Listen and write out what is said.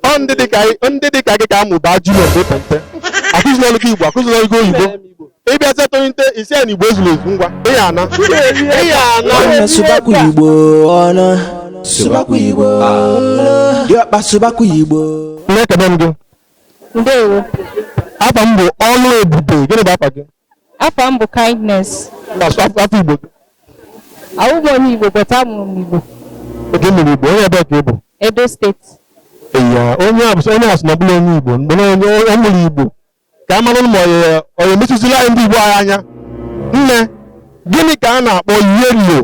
ọ ndị dịka ndị dịka gị ka amụba junior mgbe pente akụzirirọ gị Igbo akụzirirọ gị oyibo ị bịa zetụrụ nte isi na igbo ezuru ezu ngwa ị ya ana ị ya ana Ụnụ sụbakwa Igbo ụnụ sụbakwa Igbo diọkpa sụbakwa Igbo nne ekene m gị ndewo afa m bụ Ọlụebube gịnị bụ afa gị Afa m bụ Kindness. Asụ asụ asụ Igbo. Awụghị m onye Igbo but amụrụ m Igbo. Oge mere Igbo, onye ebee ka ị bụ? Edo State. Eya, onye a bụ onye a sị na ọ bụrọ onye Igbo, mana ọ mụrụ Igbo. Ka a mara ma ọ ya emechizila anyị ndị Igbo anyị anya. Nne, gịnị ka a na-akpọ yellow